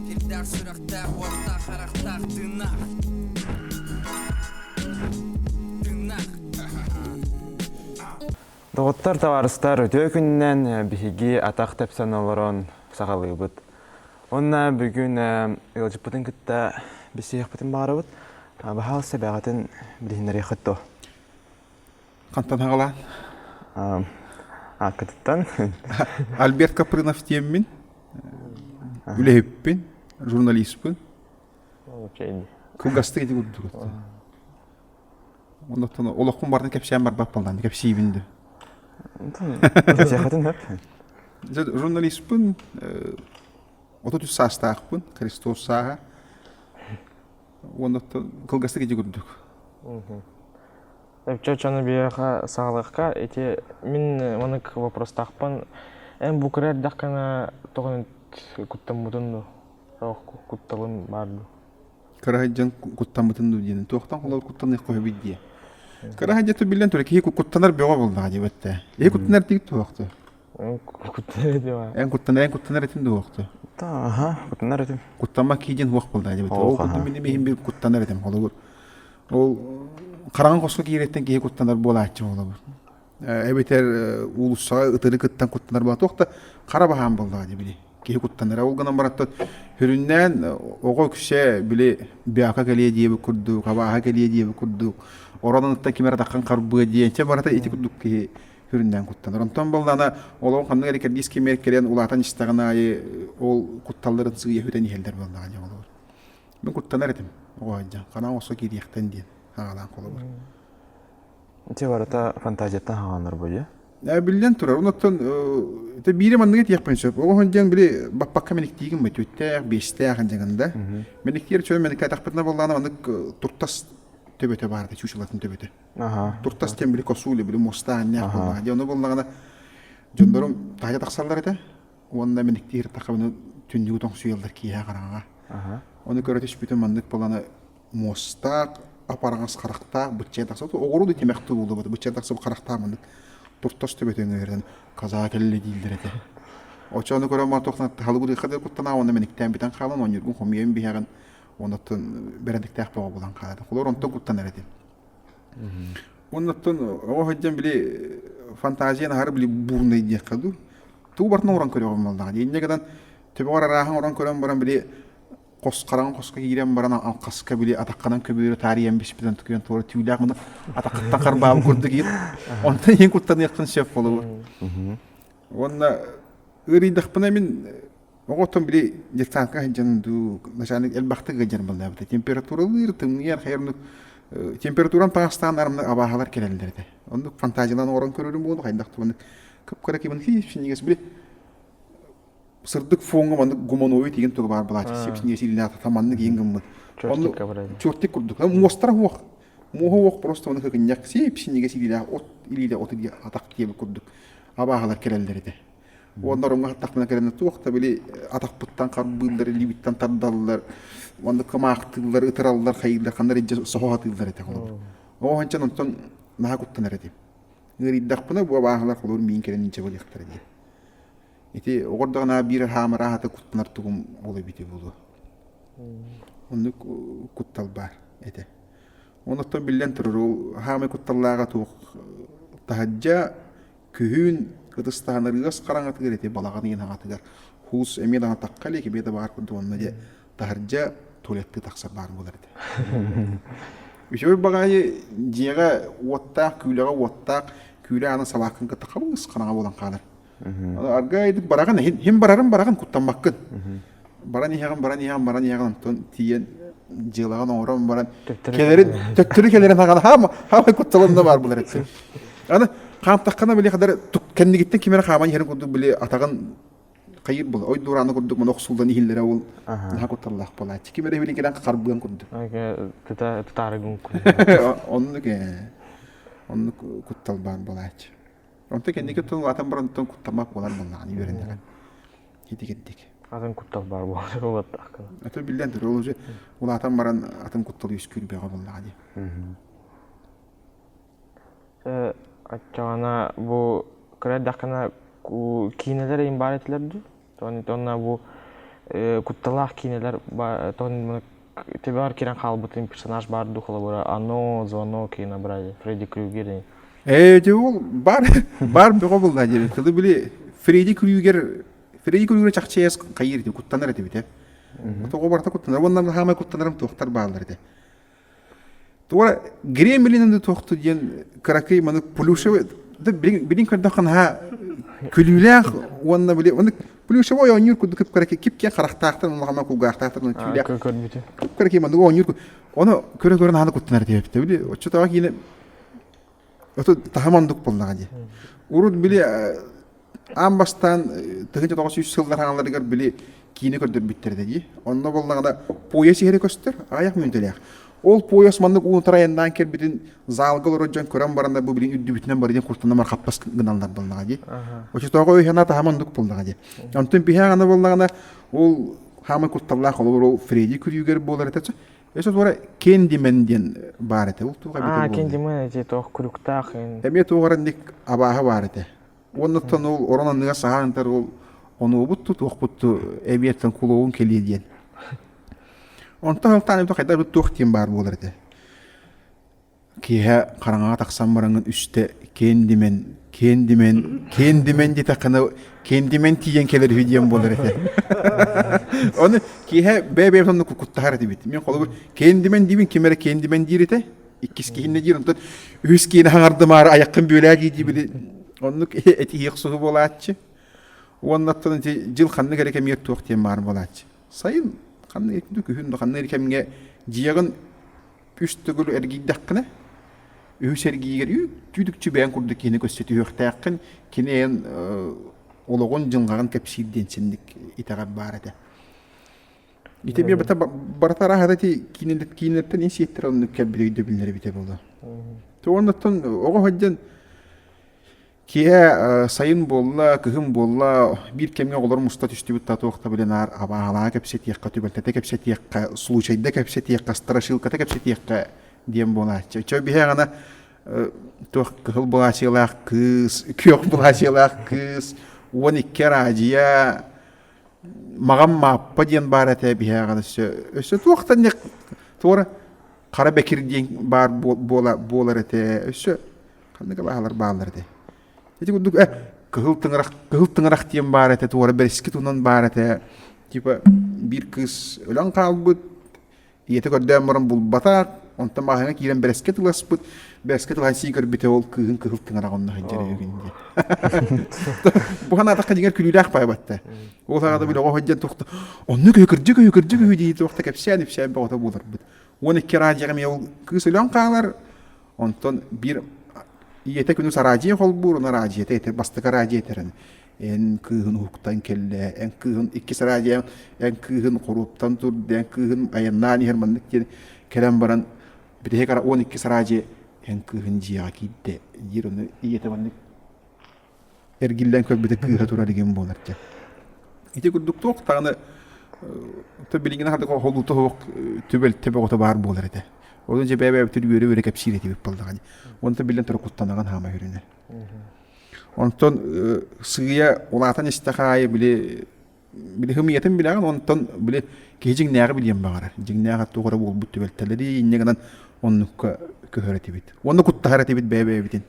Сирдээх сүрэхтээх, уоттаах, харахтаах, тыыннаах. Тыыннаах. Доҕоттор, табаарыстар, үтүө күнүнэн биһиги атах тэпсэн олорон сахалыыбыт Уонна бүгүн ыалдьыппытын кытта билсиһиэхпитин баҕарабыт. Баһаал сэбэҕитин билиһиннэриэххит дуо? Хантан хаҕалаан? Ааккытыттан. Альберт Капрынов диэммин, үлэһиппин, журналистпын. Кылгастык ити курдук. Оннуктан олохпун барытын кэпсээн барбаппаллаан кэпсиибин да. Кэпсиэххитин сөп. Журналистпын отут үс саастаахпын Христос сааһа уонна кылгастык ити курдук. Өччөчөнү биһиэхэ саалыахха ити мин манык вопростаахпын эн бу кыра эрдэххинэ тоҕо куттаммытын да кутталым баар дуу кыраһайдьан куттаммытым дуу диэн туохтан холор куттаныах хоһуйбут дии кыраһайдьа тубиллан тура киһи куттанар бөҕө булдаҕа дии бэтте киһи куттанар тиг туохtu куттанар этим эн куттанар эн куттанар этим дуохtu тааха куттанар этим куттамма киидин уох булда дии бэтте ол куттам мини миһим бир куттанар этим холобур ол хараҥа хоско кииреттен киһи куттанар буолааччы болобур эбэтэр уулуссаҕа ытыры кыттан куттанар баа туох да хара баһаам буоллаҕа били киһи куттанара ол гынан бараттан сүрүннээн оҕо үксэ били бяка кэлиэ диэбит курдук абааһа кэлиэ диэбит курдук оронуттан ким эрэ таххан харбыа диэн чэ барата ити курдук киһи сүрүннээн куттанар онтон боллаана олоҕу ханнык эрэ кэрдиис кимэр кэлэн улаатан истэҕин аайы ол кутталларын сыыйа хүтэн иһэллэр буоллаҕа дьэ олор мин куттанар этим оҕо дьон ханаа оҕосо киириэхтэн диэн аҕалаан холобур Ити барыта фантазияттан хааланар буолуо. Ээ, биллэн турар. Оннуттан ити биири манныгы диэхпин сөп. Оҕо һон диэн били баппакка мэниктиигин бу түттээх, биэстээх дьаҥын да. Мэниктиир чөл мэниккэ атахпытына боллаана маннык туртас төбөтө баарда чучылатын төбөтө. Туртас диэн били косули били мустаан неах буллаха диэн ону боллаана дьоннорум таайа тахсаллар этэ уонна мэниктиир тахабыны түннүгү тоҥсуйаллар киэһэ хараҕаҕа. Оны көрө түспүтүн маннык боллаана муостаах, апараҥас харахтаах быччыа тахса, оҕуруу да тимэхтүү буолуо, быччыа тахса харахтаах маннык туртас төбөтүн ыырын каза кэллэ дииллэр этэ. Очону көрө матохна тахалыгырыха да куттана уонна мэниктээн бүтэн хаалан оонньуургун хомуйан биһэҕин оннуттан бэрээдэктээх бөҕө булан хаалата. Холор онтон куттан эрэтин. Оннуттан оҕо хадьан били фантазияны хар били бууннай диэххэ дуу. Туу бартын орон көрөҕүм малдаҕа. Инньэ гынан төбөҕөр арааһын орон көрөн баран били хос хараҥа хоско киирэн баран хаска били атахханан көбүөрэ таарыйан биспитин тукуйан туора түүлээх гына атахтан харбаабы курдук иир онтон иин куттаныаххын сөп болугур уонна ыарыйдахпына мин оҕотон били детсадка сылдьан дуу начальник элбэхтик ыдьан балдаабыта температуралыыр тымныйан хайырнук температурам таастаан армны абааһалар келелдер этэ оннук фантазиялан орон көрөрүм буолу хайдах тубаннык кыпкара кимин хиис били сырдык фоҥҥа маннык гумановый тигин тылы баар былаачык сипс ньиэсиилээх маннык иин гыммыт чертик курдук муостара уох муоһа уох просто маны хыкынньах сиэпс ньигэс илиилээх от илиилэ от диэ атах диэбит курдук абааһалар кэлэллэр этэ уонна ороҥҥо хаттахтана кэлэнэ туох да били атахпыттан харбыыллар илиибиттэн тардаллар уонна кымаахтыыллар ытыраллар хайыыллар ханна илдьэ соһоһотууллар этэ холобур оо ханчан онтон наһаа куттанар этим ыарыйдахпына бу абааһалар холобур миин кэлэн илдьэ балыахтара диэн Ити оҕордоҕуна биир хаамар аһата куттанар тугум ол эбити буолуо. Оннук куттал баар этэ. Онуттан биллэн турар ол хаамай кутталлааҕа туох таһырдьа күһүн ытыстаһан ырыас хараҥатыгар ити балаҕан иин аҕатыгар хуус эмиэ даҕаны тахха илик эбиэ да баҕар курдук онно дьэ таһырдьа туалеттыы тахсар баар буолар этэ. Үчүгэй баҕайы дьиэҕэ уоттаах, күүлэҕэ уоттаах, күүлэ аана салааккын кытта хабыҥыс ханаҕа буолан хаалар. аргыайдык бараҕын иһин барарын бараҕын куттаммаккын баран иһэҕин баран иһэҕин баран иһэҕин оттон тиийэн дьыалаҕын оҥорон баран кэлэрин төттөрү кэлэрин хаҕана хаамай кутталында баар булар этсин аны хаамтаххына били хадары кэннигиттэн кимэрэ хааман иһэрин курдук били атаҕын хайыр була ой дуорааны курдук мана охсуллан иһиллэрэ ол наһаа кутталлаах буолааччы кимэрэ билин кэлэн харбыан курдук оннук оннук куттал баар буолааччы Онтон кэнники тыл атын барантан куттамак буолар боллаҕын үөрэннилэр. Хитикеттик. Атын куттал бар буолар болаттаахкына. Атын биллэн турар ол же улаатан баран атын куттал үөскүүр бөҕө боллаҕа дии. Аччаҕана бу кыра дэхкана киинэлэр ин бар этилер дии. Tonна бу кутталаах киинэлэр тон тебар кирен хаалбытын персонаж бар духолабыра оно звоно кино брали Фредди Крюгер Э, де ол бар бар бөҕө булла диир тылы били Фредди Крюгер Фредди Крюгер чахчыйас хайыр ити куттанар этэ битэ тоҕо барта куттанар уонна хаамай куттанарым туохтар бааллар этэ Туора гремлинаны туохту диэн кыракый манык плюшевый билин көрдөххө наһаа күлүүлээх уонна били маннык плюшевой оонньуур курдук кыракый кипкиэн харахтаахтар улаханна кулгаахтаахтар аны түүлээх кыракый маннык оонньуур ону көрө көрө наһаа да куттанар диэбиттэ били оччотооҕу киинэ оту таһым ондук буоллаҕа дии урут били Аан бастаан тыһыынча тоҕус сүүс сыллар хаҥаларыгар били киини көрдөрбүттэр этэ дии. Онно боллаҕына пояс иһэрэ көстөр, аҕыйах мүнүүтэлээх. Ол пояс маннык уунтара айаннаан кэлбитин залга олорор дьон көрөн баран бу билигин үрдүбүтүнэн барыйан куртанамар хаппас гыналлар буоллаҕа дии. Очотооҕу өйхана таһа маннык буоллаҕа дии. Онтун биһэ аны буоллаҕына ол хаамай кутталлаах олор ол Фредди күрүүгэр буолар этэ. Эсэ туора кендимен диэн баар этэ. Ол туга эбитэ буоллаҕа. Кендимен эти тоох күрүктаах. Эмиэ туоҕар ник абааһы баар этэ. Уоннаттан ол орон анныгар саһаан ытар ол хонуубут ту туохпут ту эбиэртэн кулуогун кэлиэ диэн. Онтон алтаан эбитэ хайдах эбит туох диэн баар буолар этэ. Киэһэ хараҥаҕа тахсан бараҥын үстэ киэн димэн киэн димэн киэн димэн дитэххинэ киэн димэн тиийэн кэлэр үһү диэн буолар этэ. Ону киэһэ бэбэб сонно куттаһар этибит. Мен холобур киэн димэн диибин ким эрэ киэн димэн диир этэ. иккис киһиннэ диир онтон үһүс киһини хаҥардымаары айаххын бүөлээ дии били оннук этиһиэх суһу буолааччы уонна аттан дьыл ханнык эрэ кэмигэр туох диэн баар буолааччы сайын ханнык эрэ күһүн ханнык эрэ кэмҥэ дьиэҕин үс төгүл эргийдэххинэ үһүс эргиигэр түүдүкчү бэйэн курдук киһини көрсө түһүөхтээххин кини эйэн олоҕун дьылҕаҕын кэпсиир диэн синник итэҕэр баар этэ Ити эмиэ бата барыта арааһата ити киинэлэртэн ин сиэттэр алыннык кэлбит өйдөбүллэрэ эбитэ буолуо. Ты оннуттан оҕо сылдьан киһи сайын буолла, кыһын буолла, биир кэмҥэ оҕолор муста түстүбүт татуахта билэн аар абааһалаҕа кэпсэтиэххэ, түбэлтэтэ кэпсэтиэххэ, случайда кэпсэтиэххэ, страшилката кэпсэтиэххэ диэн буолааччы. Чэ биһээҕина туох кыһыл былаачыйалаах кыыс, күөх былаачыйалаах кыыс, уон икки араадьыйа Мағам Мааппа диэн баар этэ биһээҕэр өссө өссө туохтанньык туора Хара Бэкир диэн баар буола буолар этэ өссө ханнык алаһалар бааллар этэ. Ити курдук э Кыһыл Тыҥырах Кыһыл Тыҥырах диэн баар этэ туора Бэрэски тунан баар этэ типа биир кыыс өлөн хаалбыт Ийэтэ көрдөөн баран булбатах, онтон маҕаһыыҥҥа киирэн бэрэскэ тыласпыт. Бэрэскэ тылаһан сии көрбүтэ ол кыыһын кыһыл кыҥыраҕа онно сылдьар үһүгүн диэн. Бу санаатахха дьиҥэр күлүүлээх баайбатта. Ол саҕата били оҕо сылдьан туохта онно көһө кырдьык өйө кырдьык өйө дии туохта кэпсээн ипсээн бөҕөтө буоларбыт. Уон икки араадьыйаҕа эмиэ ол кыыс өлөн хаалар. Онтон биир ийэтэ күнүс араадьыйа холбуур, оны араадьыйата этэр, бастакы араадьыйа этэрэн. эн кыыһын уһуктан кэллээ, эн кыыһын иккис радио, эн кыыһын хоруоптан турда, эн кыыһын айаннаан иһэр маннык диэн кэлэн баран битиһи кара он иккис радио эн кыыһын дьиэҕэ киирдэ диир ону ийэтэ маннык эргиллэн көрбүтэ кыыһа турар игин буолар дьэ. Ити курдук туох даҕаны то билигин хардык холуута суох түбэл төбөҕүтэ баар буолар этэ. Ону дьэ бэйэ-бэйэбитин үөрэ-үөрэ кэпсиир этибит баллаҕа. Онто биллэн турар куттанаҕын хаама үрүнэр. Онтон сыыйа улаатан истэх аайы били били хымыйатын билэҕин, онтон били киһи дьиҥнээҕи билиэн баҕарар. Дьиҥнээх туох эрэ буолбут түбэлтэлэри инньэ гынан оннукка көһөр этибит. Уонна куттаһар этибит бэйэ-бэйэбитин.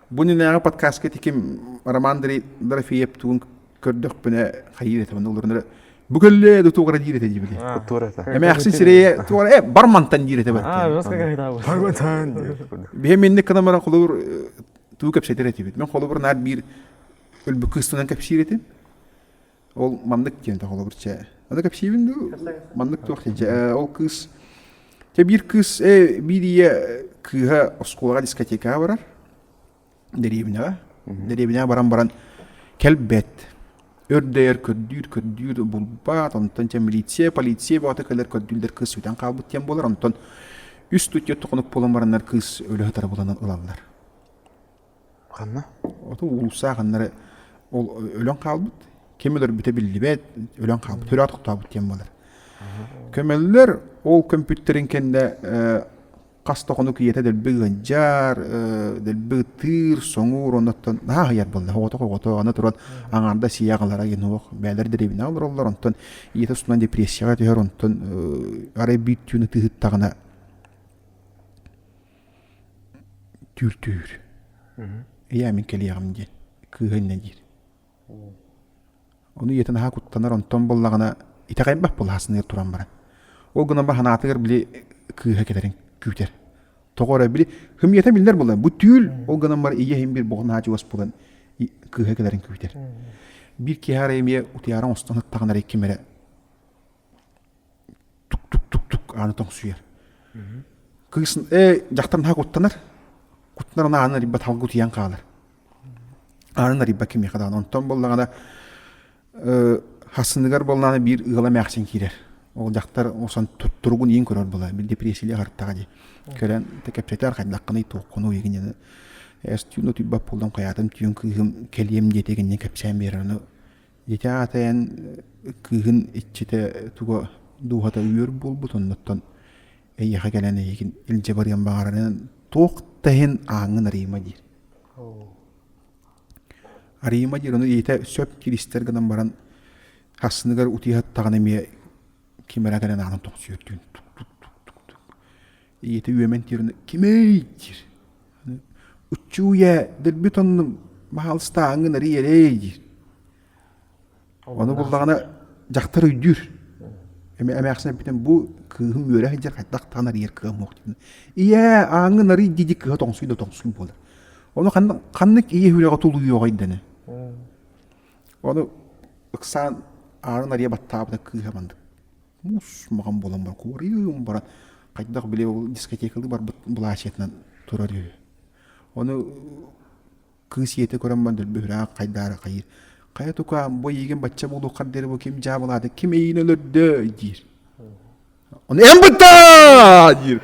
Бу иннинээҕи подкастка ити ким Роман Дорофеев тугун көрдөхпүнэ хайыы этэ олорунар бу көлле туора диир этэ дибити туора это эмээхсин сирэйэ туора э бармантан диир этэ бар бихэ минник кынамара холобур туу кэпсэтер этибит мен холобур наар биир өлбү кыыстынан кэпсиир этим ол маннык диэн то холобур че аны кэпсиибин ду маннык туох же ол кыыс те биир кыыс э биирие кыыһа оскуолаҕа дискотека барар дэриэбинэҕэ дэриэбинэҕэ баран баран кэлбэт өрдөйөр көрдүүр көрдүүр булбаат онтон чэ милиция полиция баҕата кэлэр көрдүүллэр кыыс сүтэн хаалбыт диэн буолар онтон үс түтүөт хонук буолан бараннар кыыс өлө сытара буланан ылаллар ханна оту уулусса ханнары ол өлөн хаалбыт ким өлөрбүтэ биллибэт өлөн хаалбыт төрөөт хотообут диэн буолар көмөллөр ол көмпүттэрин кэннэ хас да хонук ийэтэ дэлби ыанчаар, дэлби ытыыр, соҥуур, оннуттан наһаа аһыйар буолла. Оҕото-оҕото аны туран аҥаардас ийэ аҕалара иһинуох бэйэлэр дэриэбинэҕэ олороллор, онтон ийэтэ устунан депрессияҕа түһэр, онтон арай бүттүүн ытыһыттаҕына түүртүүр. Ийээ мин кэлиэҕим диэн кыыһа иннэ диир Ону ийэтэ наһаа куттанар, онтон буоллаҕына итэҕэйбэт былаһассыныгар туран баран. Ол гынан баран санаатыгар били кыыһа кэлэрин күүтэр. Тоҕо эрэ били һым ийэтэ биллэр буолла, бу түүл, ол гынан баран ийэ иһин биир боҕон аадьыгас буолан кыыһа кэлэрин күүтэр. Биир киэһэ эрэ эмиэ утуйаары оҥостон сыттаҕына эрэ икки эмэ эрэ тук-тук-тук-тук аана тоҥсуйар. Кыыс «Ээ, дьахтар наһаа куттанар, куттанар аны аанын арыйбат халгы утуйан хаалар». Аанын арыйбат кимиэхэ даҕаны. Онтон буоллаҕына хасыныгар буоллаҕына биир ыала эмээхсин киирэр. Ол дьахтар осон туругун иин көрөр буолар. Бил депрессия аһартаҕа дии. Көрөн кэпсэтэр хайдаххыный, туоххунуй игин аны эс түүн утуйбат буоллам хайаатым түүн кыыһым кэлиэм диэтэ игиннин кэпсээн биэрэр. Аны Ити аатайан кыыһын иччитэ туга дууһата үөр буолбут, оннуттан эйиэхэ кэлэн эйигин илдьэ барыан баҕарарын туох да иһин ааҥҥын Арима диир. Арима диир, ону ийэтэ сөп киристэр гынан баран ассыныгар утуйа сыттаҕына эмиэ ким эрэ кэлэн аанын тохсуйар түүн тук тук тук тук тук ийэтэ үөмэн тиэрэн кимэй диир учуйа дэрбит оннум баһаалыстааҥҥын арый эрэй диир ону буллаҕына дьахтар өйдүүр эмээхсин эппитин бу кыыһым үөрэ сылдьар хайдах даҕаны арыйар кыам суох диэн ийээ ааҥҥын арый диди кыыһа тоҥсуй да тоҥсуй буолар ону ханнык ийэ үрэҕэ тулуйуоҕай дэнэ ону ыксаан аанын арыйа баттаабыта кыыһа маннык муус-маҕан буолан баран баран хайдах били ол дискотекалыы барбыт былаачыйатынан турар үһү. Ону кыыс ийэтэ көрөн баран дөлбөһүрээх хайдаары хайыыр. Хайа тукаам, бу эйигин бачча буолуоххар диэри бу ким дьаабылаата, ким эйиин өлөрдө диир. Ону эн быттаа диир.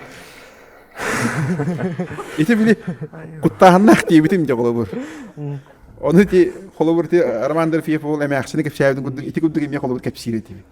Ити били куттааһыннаах диэбитим дьэ холобур. Ону ити холобур ити Роман Дерфеев ол эмээхсини кэпсээбитин курдук ити курдук эмиэ холобур кэпсиир этибит.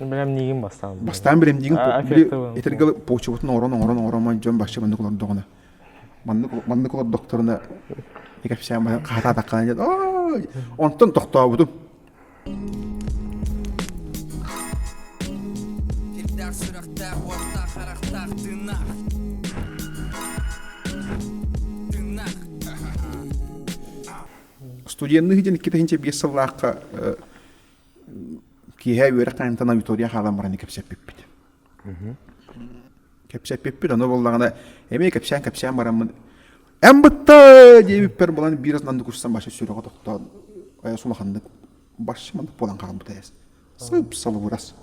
Бэлэм диигин бастаан. Бастаан бэлэм диигин били этэргэ почебутун оҥорон оҥорон оҥоромой дьон бачча маннык олордоҕуна. Маннык маннык олордохторуна экэпсээн байан хаатаатаххына диэн онтон тохтообутум. Ирдээх сүрэхтээх уоттаах харахтаах тыыннаах Тыыннаах Студенный дьин 2005 сыллаахха киэһэ үөрэх тайымтан аудитория хаалан баран кэпсэппиппит. Кэпсэппиппит ону буоллаҕына эмиэ кэпсээн-кэпсээн бараммын эн бытта диэбиппэр булан биир астынан курсан баша сүрэҕэ тохтоон сулаханнык барщ маннык буолан хаалбыта эс сып салыбырас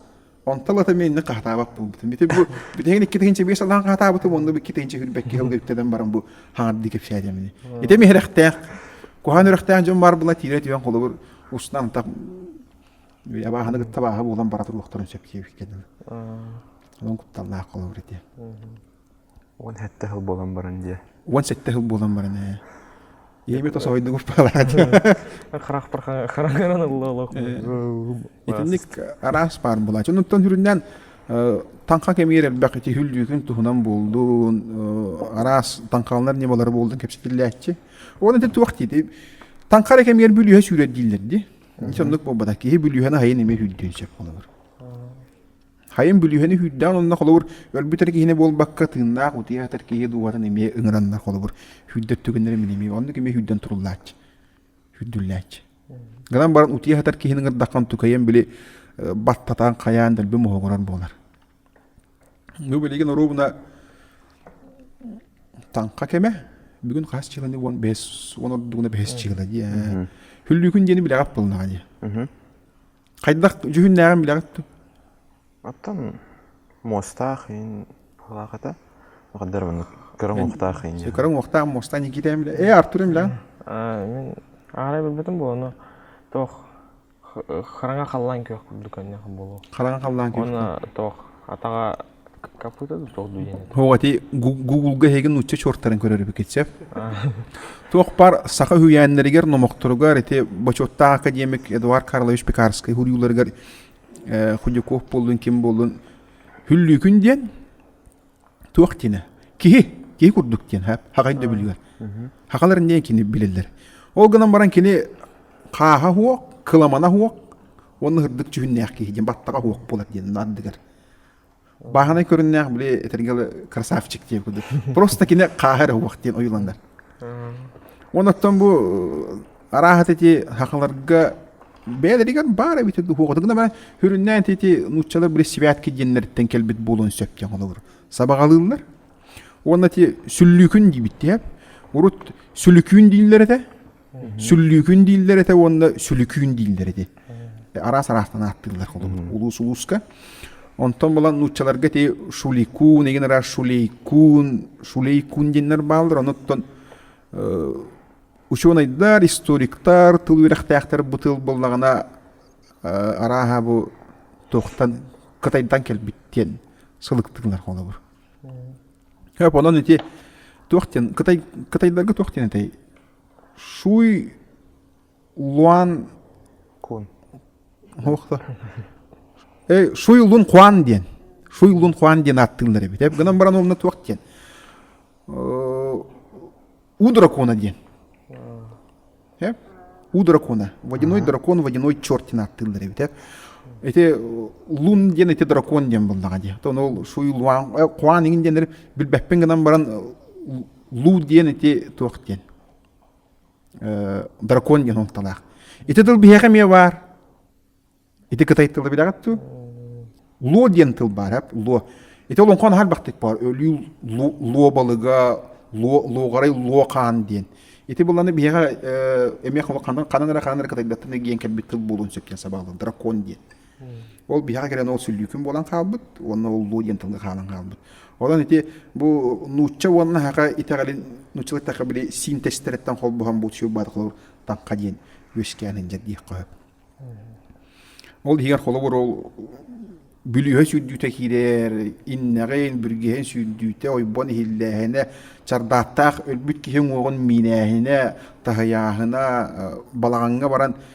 Онтон ата миэннэ хаһатаабат буолбутум. Ити бу бүтэһигин икки тыһыынча биэс алаан хаһатаабытым, онно икки тыһыынча үрбэкки алгыктадан баран бу хаҥар дии кэпсээтим ини. Ити миһирэхтээх, куһаан үрэхтээх дьон баар була тиирэ түһэн холобур устан антах абааһыны кытта абааһы буолан бара туруохтарын сөп киэбиккэ дылы. Онон кутталлаах холобур ити. Уон сэттэ сыл буолан баран дьэ. Уон сэттэ сыл буолан баран ээ. Ийэбит тосоойдугуп баалара дии. Харах хараҥаран ыллылах. Итинник араас баар буолааччы. Онтон сүрүннээн таҥха кэмигэр элбэх ити хүллүүтүн туһунан буолдун, араас таҥхаланар ньымалары буолдун кэпсэтиллээччи. Ол ити туох диити таҥха эрэ кэмигэр бүлүүһэ сүүрэр дииллэр дии. Ити оннук буолбатах. Киһи бүлүүһэни хайын эмиэ сүүрдүөн сөп болобор. Хайым бүлүүһэни hүүрдээн онно холобур өлбүтэр киһини буолбакка тыыннаах утуйа сатар киһи дууһатын эмиэ ыҥыраннар холобур хүрдэр түгэннэрин эмиэ оннук эмиэ хүрдэн туруллааччы хүрдүллээччи гынан баран утуйа сатар киһини ыҥырдаххан тукайан били баттатаан хайаан дэлби моһоҕурар буолар бу билигин оруобуна таҥха кэмэ бүгүн хас чыыланы уон бэс уон ордугуна бэс чыыла дии хүллүүкүн диэни билэҕит буолнаҕа дии Хайдах дьүһүннээҕин билэҕит дуо? Оттон муостаах иин алааката махтар маннык көрөҥ уохтаах иин диэн. Көрөҥ уохтаах муостаах Никитээм билэ. Ээ Артурым билэҕин? Мин аҕалай билбэтим буолуну тоох хараҥа халлаан күөх курдук көннөх буолуо. Хараҥа халлаан күөх. Уонна тоох атаҕа О, ити Гугулга эһигин нуучча чуортарын көрөр эбикит сөп. Туох пар саха үһүйээннэригэр номохторугар ити бочуоттаах академик Эдуард Карлович Пекарский хуруюларыгар Худяков боллун ким боллун хүллүүкүн диэн туох тине киһи киһи курдук диэн хагай да билигер хакалар не кини билеллер ол гынан баран кини хааха хуох кыламана хуох онны хырдык жүһүннээх киһи диэн баттаға хуох болар диэн ардыгар Бааһынай көрүннээх били этэргэ красавчик диэн курдук. Просто кини хааһа эрэ уох диэн ойууланар. Уон оттон бу арааһат эти хахаларга бэйэлэригэр баар эбит уохатыгына бара хүрүннээн тити нууччалар брессивятки диэннэриттен келбит болон сөп диэн олор сабагалыыллар уонна ти сүллүүкүн дибит диэп урут сүлүкүүн дииллер этэ Сүллүүкүн дииллэр этэ уонна сүлүкүүн дииллэр ити. Араас араастан ааттыыллар холобур улуус улууска. Онтон булан нууччаларга ти шуликун, эгин ара шулейкун, шулейкун диэннэр бааллар, онуттан учуонайдар, историктар, тыл үөрэхтээхтэр бу тыл булнаҕына арааһа бу туохтан кытайдан кэлбит диэн сылыктыылар холобур. Хөп онон ити туох диэн кытай кытайдарга туох диэн этэй Шуйлун Хуан диэн Шуйлун Хуан диэн ааттыыллар эбит гынан баран уонна туох диэн у дракона диэн у дракона водяной дракон водяной черт диэн ааттыыллар эбит ити лун диэн ити дракон диэн буоллаҕа дии то ол шуйлуан хуан иҥин диэннэр билбэппин гынан баран луу диэн ити туох диэн дракон диэн уҥталаах ити тыл биһиэхэ эмиэ баар ити кытай тылы билэҕит дуу луо диэн тыл баар луо ити олоҥхону харбахтык баар өлүү луо балыга луоҕарай луо хаан диэн ити буланы биһиэхэ эмиэ ханан эрэ ханан эрэ кытайдаттан гиэн кэлбит тыл буолуон сөп диэн сабааллан дракон диэн Ол биһэҕэ кэлэн ол сүллүүкүн буолан хаалбыт уонна уллуу диэн тылга хаалан хаалбыт. Онон ити бу нуучча уонна хаһа итэҕэлин нуучча тахха били синтезтериттэн холбоһон бу сюрбаатыклар танка диэн үөскээн иһин диэххэ Ол иһигэр холобур ол бүлүүһэ сүүрдүүтэ киирэр, иннэҕин, бүргэһин сүүрдүүтэ, ойбон иһиллээһинэ, чардааттаах өлбүт киһи уҥуоҕун миинээһинэ, таһыйааһына, балаҕаҥҥа баран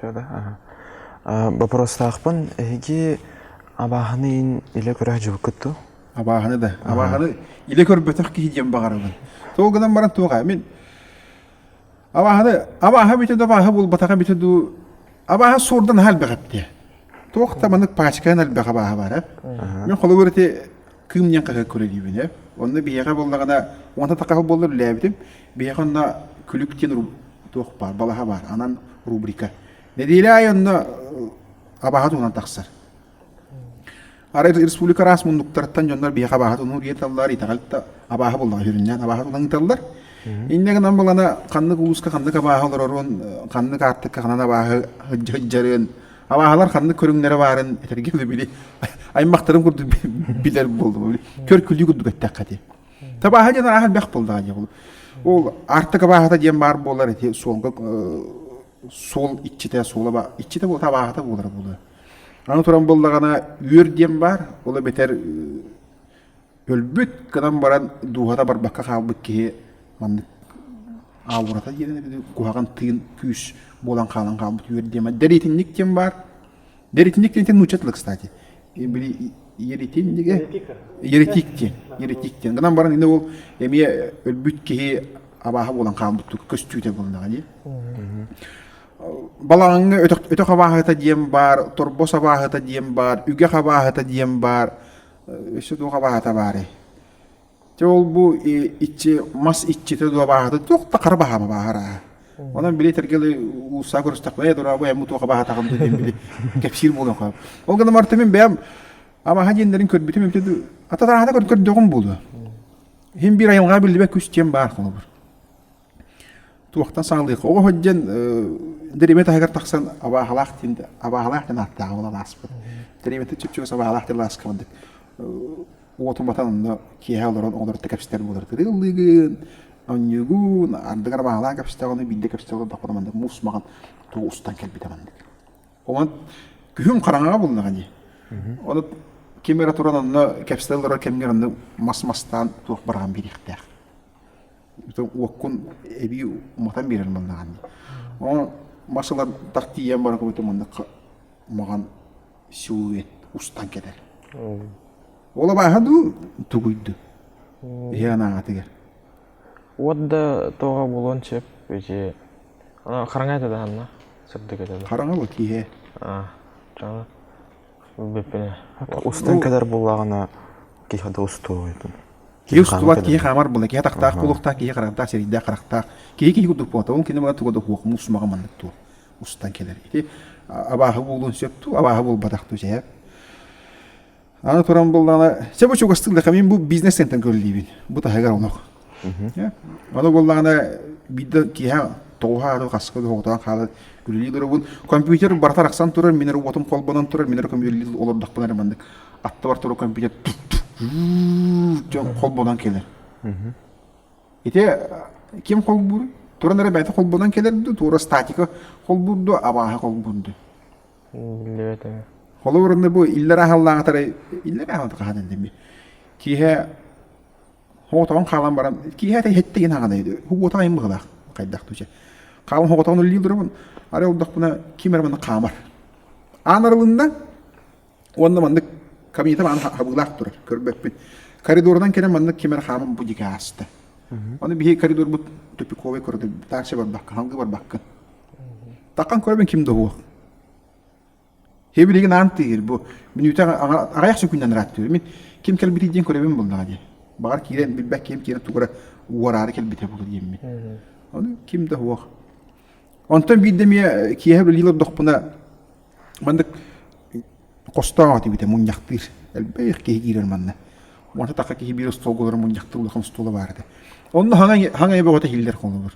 Чэ да боппуруостаахпын эһиги абааһыны илэ көрө сылдьыбыккыт дуу? Абааһыны да. Абааһыны илэ көрбөтөх киһи диэн баҕарабын. Тоҕо гынан баран туох мин абааһыны абааһы бүтэ да абааһы булбатаҕа бүтэ дуу абааһы суордан аһа элбэх эптиэ. Туох да маннык пачканан элбэх абааһы баар ээ. Мин холобур ити Кыым диэн хаһыакка үлэлиибин. Онно биһиэхэ буоллаҕына, уонна такаһы буоллар үлэлээбитим. Биһиэхэ онно күлүк диэн туох баар, балаһа баар, анан рубрика. Нэдиэлэ аайы онно абааһы туһунан тахсар. Арай республика араас муннуктарыттан дьоннор биһиэхэ абааһы туннуур иһин таллаар, итэҕэл да абааһы буоллаҕа сүрүннээн абааһы тунан ыыталлар. Иннэ гынан буолана ханнык улууска ханнык абааһы олороруон, ханнык аартыкка ханан абааһы ыһдьы-ыһдьарыан, Абааһылар ханнык көрүҥнэрэ баарын этэргин били аймақтарын курдук билэр буолдум. Көркүлүү курдук эттэххэ ти. Табааһа диэн ааһар бэх болдаҕа диэх Ол артык абааһата диэн баар буолар эти суолга суол иччитэ суола иччитэ була табааһата буолар буолар. Аны туран быллаҕана үөр диэн баар, ол бетер Өлбүт гынан баран дууһата барбакка хаалбыт киһи маннык аурата диэн куһаҕан тыын күүс буолан хаалан хаалбыт үөр диэм. Дэритинник диэн баар. Дэритинник диэн нууччатылар, кстати. Били еритиннигэ. Еретик диэн. Еретик диэн. Гынан баран ини ол эмиэ өлбүт киһи абааһа буолан хаалбыттык көстүүтэ буолнаҕа дии. Балаҕаҥҥа өтөх өтөх абааһыта диэн баар, торбос абааһыта диэн баар, үгэх абааһыта диэн баар. өссө туох абааһыта баарый дьэ ол-бу иччи мас иччитэ дуо абааһыта туох да хара баһаама бааһырааһа онон били этэргэ уулуссаҕа көрүстэхпинэ «Ээ дураа бу эмму туох абааһытаҕым дуо диэн били кэпсиир буолуон хаап ол гынан барыта мин бэйэм абааһа диэннэрин көрбүтүм эмтэ ататааһыта көрдөҕүм буолуо иһин биир айылҕаҕа биллибэт күс диэн баар холобур туохтан саалыах оҕо сылдьан дэриэбинэ таһыгар тахсан абааһылаах диэн абааһылаах диэн ааттааҕа буолан ааспыт дэриэбинэтэ чөпчөкүс абааһылаах диэн лааска барбыт уотун батан онно киэһэ олорон оҕолорто кэпсэтэр буолар тырыыллыгын онньугун ардыгар абааһылаах кэпсэтэҕин биирдэ кэпсэҕин отдохпуна маннык муус маҕан тугу устан кэлбитэ маннык онон күһүн хараҥаҕа булнаҕа дии ону ким эрэ туран онно кэпсэтэ олорор кэмҥэр онно мас мастаан туох бараҕан биэриэхтээх уоккун эбии уматан биэрэр маннаҕын дии ону мас ылан тах тиийэн баран кэбитэ маннык маҕан силуэт устан кэтэр ол абааһа дуу тугуй дуу иһи анааҕатыгар уот да тоҕо булуон сөп ити хараҥа этэ да ханна сырдык этэ да хараҥа бу киһи аа дьоно Устан кадар буллагана киһи да устуойтун. Киһи устубат киһи хаамар була киһи атахтаах кулуктаах киһи харантаах сирийдээх харахтаах киһи киһи курдук буота ол кине бага туга да хуохму усмага маннык туо устан келер ити абааһы буолун сөп ту абааһы буолбатах ту сеяп аны туран буллана се бу чугастык да камин бу бизнес центрен көрүллүүбүн бу таһыгар онох Ону буллаҕына биирдэ киэһэ тоҕуһаары хаска доҕотоон хаалан үлэлии турабын. Компьютер барыта арахсан турар, мин эрэ уотум холбонон турар, мин эрэ компьютер олордохпуна эрэ маннык атта бар турар компьютер дьон холбонон кэлэр. Ити ким холбуур? Туран эрэ бэйэтэ холбонон кэлэр да, туора статика холбуур да, абааһы холбуур да. Холобур, бу иллэр ааһаллааҕытарай, иллэр ааҕыта хаһан иллэми. Киэһэ Хоҕотоҕун хаалан баран, киэһэ ата иһитте гин хаҕана үдү. Хугуота айым быһылаах хайдах туче. Хаалан хоҕотоҕун үллиир дурабын, ары олдохпуна ким эрэ манна хаамар. Аан арылынна, уонна маннык кабинетам аан хабыылаах турар, көрбөппүн. Коридордан кэлэн маннык ким эрэ хааман бу дьигэ ааста. Аны биһи коридорбут тупиковый коридор, таарча барбакка, халгы барбакка. Такан көрөбүн ким да уох. Һэ билигин аан тиийэр бу мүнүүтэ аҕыйах сөкүүннэн ырааттыыр. Мин ким кэлбитий диэн көрөбүн буоллаҕа дии. Баҕар киирэн билбэт киһим киирэн тугу эрэ уораары кэлбитэ буолуо диэммин. Ону ким да суох. Онтон биир да эмиэ киэһэ үлэлиир олордохпуна маннык хостоон аҕа тибитэ мунньахтыыр. Элбэх киһи киирэр манна. Уонта тахха киһи биир остуолга олорон мунньахтыыр улахан остуола баар этэ. Онно хаҥай хаҥай бөҕөтө иһиллэр холобур.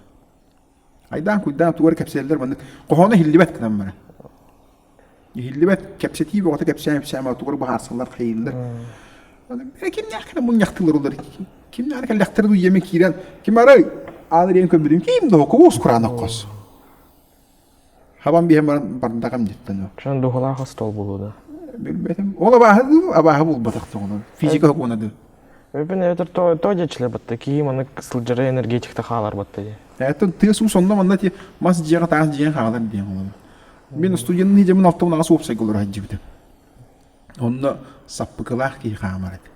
Айдаан куйдаан тугар кэпсээллэр маннык хоһооно иһиллибэт гынан баран. Иһиллибэт кэпсэтии бөҕөтө кэпсээн кэпсээн тугар баһаарсаллар хайыыллар. Кимнээх кэнэ мунньахтыыллар кимнээх кэллэхтэр дуйеме киирэн ким арай аан ириэн көмбүтүн ким до куус кураанах кос. Хабан биһэн баран бардакам диттэн ол. Шон духулаах остол булууна. Билбетим. Ол абааһы дуу, абааһы булбатах тоҕуна. Физика укуна дуу. Өйбүн эдэр то то дьечиле батта киһи манык сылдьара энергетикте хаалар батта дии. Эттен тыас уу сонно манна ти мас дьиэҕэ таах дьиэҕэ хаалар диэн олоро. Мен студенный дьэмин ортоҕун аҕас уопсайга олоро хадьдьыбытым. Онно саппыкылаах киһи хаамар этэ.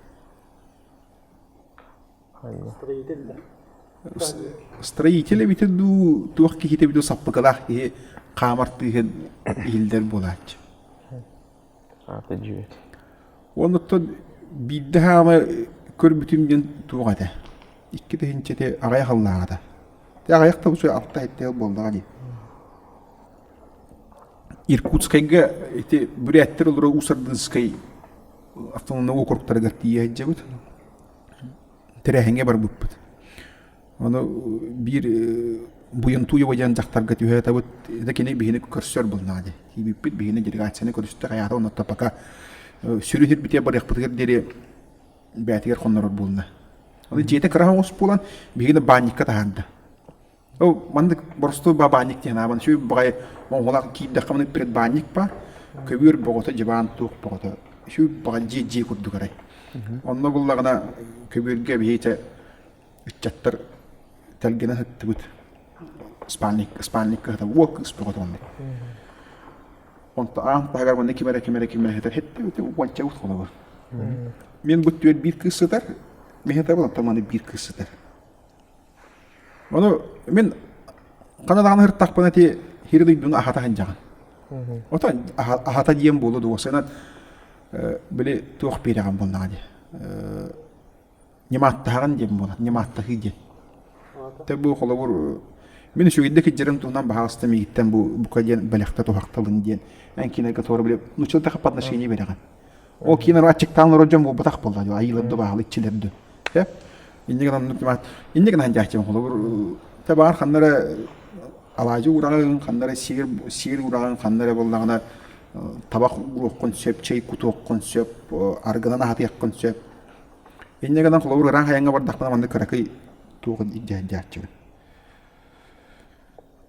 Строитель эбитэ дуу, туох киһитэ эбитэ саппыкылаах киһи хаамар тыыһын иһиллэр буолааччы. Аты дьүөт. Оннуттан биирдэ хаама көрбүтүм диэн туох этэ. Икки тыһынчэти аҕай халлааҕата. Те аҕайах табыс алта эттээл буолдаҕа дии. Иркутскайга ити бүрээттэр олору Усардынскай автономный округтарыгар тиийэ сылдьабыт. Тэрээһиҥҥэ барбыппыт. Ону биир Буйунтуева диэн дьахтарга түһэ атабыт, ити кини биһини көрсөр булнаа дии. Киирбиппит биһини делегацияны көрүстүк, аята онно пока сүрү сирбитигэр барыахпытыгар диэри бээтигэр хоннорор буолла. Аны дьиэтэ кыраһа оҥос буолан, биһигини баанньыкка таһаарда. Ол маннык боростуой баанньык диэн аабан сүр баҕай монгулаах киирдэххэ маны предбаанньык баар көбүөр боҕото дьыбаан туох боҕото сүр баҕа дьиэ дьиэ курдук арай онно буллаҕына көбүөргэ биһиэтэ ыччаттар тэлгэнэ сыттыбыт спальник спальник кыһата уол кыыс боҕото маннык онто аан таһыгар манна ким эрэ ким эрэ ким эрэ сытар һэттэ уонча ут холобур мин бу түөр биир кыыс сытар мэһэтабыл онтон маны биир кыыс сытар Ону мин хана даҕаны сырыттахпына ити сири дойдуну аһата сылдьаҕын. Оттон аһата диэн буолуо дуо сыанан били туох биэрэҕин буоллаҕа дии ньымааттаһаҕын диэн буолар ньымааттаһыы диэн. Тэ бу холобур мин үчүгэйдик илдьэрим туһунан баҕаста миигиттэн бу бука диэн бэлэхтэ туһахтабын диэн эн кинигэ туора били нууччаларга под отношение биэрэҕин. Ол киин аччыктаан олорор дьон буолбатах буолла дии, айыылар да баалар иччилэр да. Э? Иннигин оннук кимат. Иннигин анжааччым холобур табаар ханнара алаажы ураҕын, ханнара сиир сиир ураҕын, ханнара боллаҕына табах уруоххун сөп, чай кутуоххун сөп, аргынан аһатыаххын сөп. Иннигинэн холобур ыраан хайаҥҥа бардахпына манна кыракый туоҕун иддээддээччигин.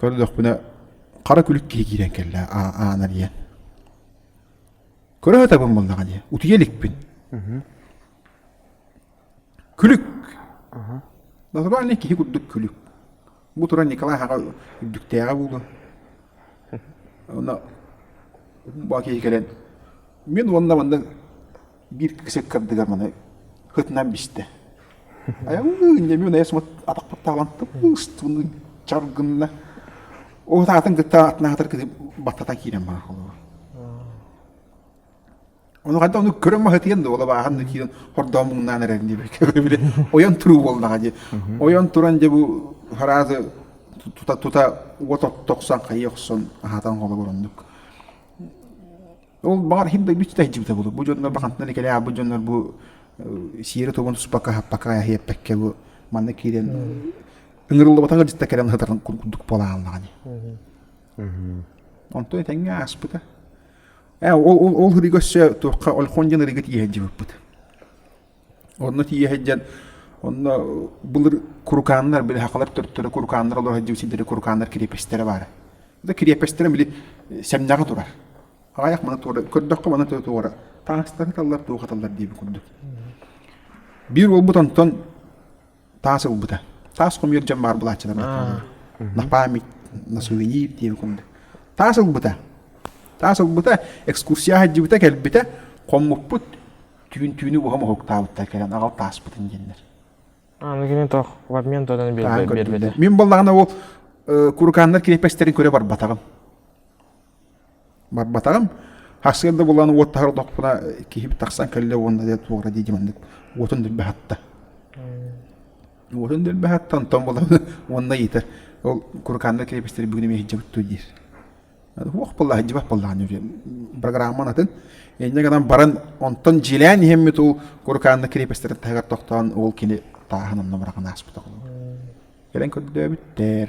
көрдөхпүнэ хара күлүк киһи киирэн кэллэ аан эрийэн көрө сатабын буоллаҕа дии утуйа иликпин күлүк натуральный киһи курдук күлүк бу туран николай аҕа үрдүктээҕэ буолуо онно бу киһи кэлэн мин уонна манна биир кисик кырдыгар маны ытынан бистэ. Иннэмиин айсмат атахпыт таалантып, ыстыбын чаргынна. Ол таатын кытта атына атар кыты баттатан киирэн бара холуга. Ону ханта ону көрөн маһытыйан да ола баахан да киирэн хордоо муҥнаан эрэрин диир били ойон туруу болнаҕа дии. Ойон туран дьэ бу хараазы тута тута уот тохсон хайыы охсон аһатан холо ороннук. Ол баҕар иһин дойду ситэ сылдьыбыта буолуо. Бу дьоннор бахантан икэлээ бу дьоннор бу сиэри тугун туспакка хаппакка эһиэппэккэ бу манна киирэн ыҥырыллыбатан ыалдьытта кэлэн сытарын курдук буолааллаҕа ди. Онтон этэҥҥэ ааспыта. Ээ ол ол ол ырыга өссө туохха Ольхон диэн ырыга тиийэн дьыбыппыт. Онно тиийэ сылдьан онно былыр курукааннар били сахалар төрүттэрэ курукааннар олоро сылдьыбыт сирдэрэ курукааннар кириэпэстэрэ баара. Да кириэпэстэрэ били сэмнэҕэ турар. Аҕыйах маны туора көрдөххө маны туора таастары таллар туох аталлар диэбит курдук. Биир уолбут онтон таас ылбыта. Таас хомуйар дьон баар былааччылар бааллар. На память, на сувенир диэн курдук. Таас ылбыта. Таас ылбыта, экскурсия сылдьыбыта, кэлбитэ, хоммуппут түүн түүнү буһа моһуктаабыттар кэлэн аҕал тааспытын диэннэр. Аны кини тоқ в обмен тойдан биэрбэтэ. Мин боллаҕына ол куруканнар крепостьтарын көрө барбатаҕым. барбатаҕым. Сарсыарда булан уоттаһар отохпуна киһибит тахсан кэллэ уонна дьэ туора дии маннык уотун дүрбэхатта. Уотун дүрбэхатта онтон булан уонна ыйытар ол курукааннар крепостьлар бүгүн эмиэ иһдьэбит дуо диир. Уох паллаах иһдьибэх паллаах диир. Программан атын. Инньэ гынан баран онтон дьиэлээн иһэммит ол курукааннар крепостьларын таһыгар тохтоон ол кини тааһын онно быраҕан ааспыта. Кэлэн көрдөөбүттэр.